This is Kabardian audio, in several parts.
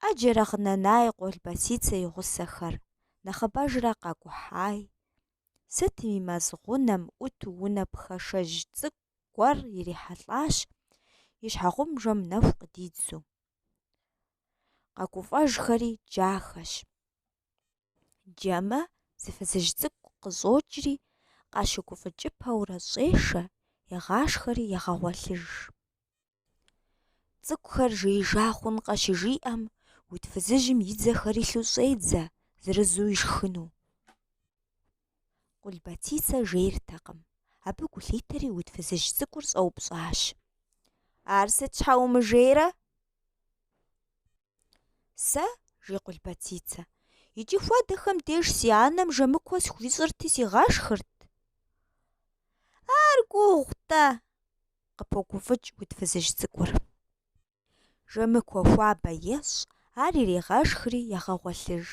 Ӏэджэрэ гъынэнай Къулбэцицэ и гъусэхэр, нэхъыбэжрэ къакӏухьай. Сытми, мэз гъунэм ӏуту унэ пхашэжь цӏыкӏу гуэр ирихьэлӏащ, и щхьэгъубжэм нэху къыдидзу. Къэгуфӏэжхэри джахэщ. Джэмэ зы фызыжь цӏыкӏу къыщӏокӏри, къащыгуфӏыкӏыпэурэ щӏешэ, егъашхэри егъэгъуэлъыж. Цӏыкӏухэр жеижа хъункъэ щыжиӏэм, уд фызыжьым и дзэхэр илъу щӏедзэ, зырызу ишхыну. Къулбэцицэ жейртэкъым. Абы гу лъитэри уд фызыжь цӏыкӏур щӏэупщӏащ. Ар сыт щхьэ умыжейрэ? Сэ, жи Къулбэцицэ, иджы хуэдэхэм деж си анэм жэмыкуэ схуищӏырти сигъашхырт. Ар гугъу-тӏэ, къыпогуфӏыкӏ уд фызыжь цӏыкӏур. Жэмыкуэ хуабэ ещӏ, ар иригъэшхри егъэгъуэлъыж.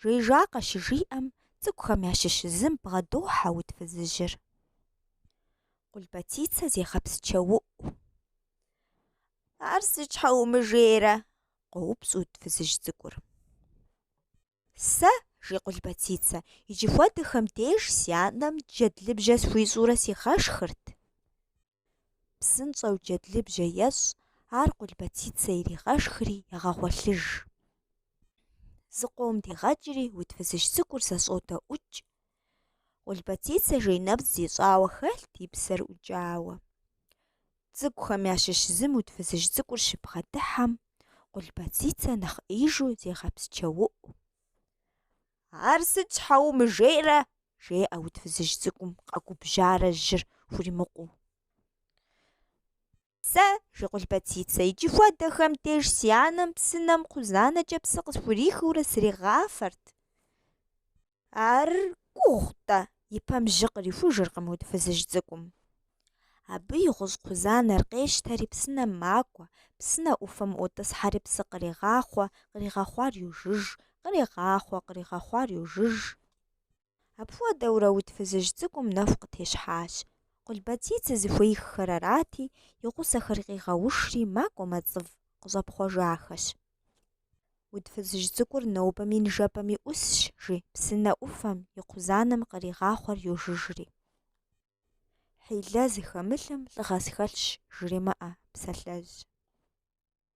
Жеижакъэ щыжиӏэм, цӏыкӏухэм ящыщ зым бгъэдохьэ уд фызыжьыр. Къулбэцицэ зегъэпсчэуӏу. Ар сыт щхьэ умыжейрэ? къоупщӏ уд фызыжь цӏыкӏур. Сэ, жи Къулбэцицэ, иджы хуэдэхэм деж си анэм джэдлыбжьэ схуищӏурэ сигъэшхырт. Псынщӏэу джэдлыбжьэ ещӏ, ар Къулбэцицэ иригъэшхри егъэгъуэлъыж. Зыкъом дигъэкӏри, уд фызыжь цӏыкӏур зэщӏодэӏукӏ, Къулбэцицэ жей нэпцӏ зищӏауэ хэлът и псэр ӏукӏауэ. Цӏыкӏухэм ящыщ зым уд фызыжь цӏыкӏур щыбгъэдыхьэм, Къулбэцицэ нэхъеижу зегъэпсчэуӏу. Ар сыт щхьэ умыжейрэ? жеӏэ уд фызыжь цӏыкӏум къэгубжьарэ жьыр хуримыкъуу. Сэ, жи Къулбэцицэ, иджы хуэдэхэм деж си анэм псынэм кхъузанэкӏэ псы къысхурихыурэ сригъафэрт. Ар гугъу-тӏэ, и пэм жьы кърихужыркъым уд фызыжь цӏыкӏум. Абы и гъущӏ кхъузанэр къещтэри псынэм макӏуэ, псынэ ӏуфэм ӏуотӏысхьэри псы кърегъахъуэ, къригъэхъуар йожыж, кърегъахъуэ, къригъэхъуар йожыж. Апхуэдэурэ уд фызыжь цӏыкӏум нэху къытещхьащ. Къулбэцицэ зыхуеиххэр арати, и гъусэхэр къигъэушри, макӏуэ мэцӏыв къыщӏэпхъуэжахэщ. Уд фызыжь цӏыкӏур нобэми ныжэбэми ӏусщ, жи, псынэ ӏуфэм, и кхъузанэм къригъахъуэр йожыжри. Хьилэ зыхэмылъым лӏыгъэ схэлъщ, жремыӏэ, псалъэжь.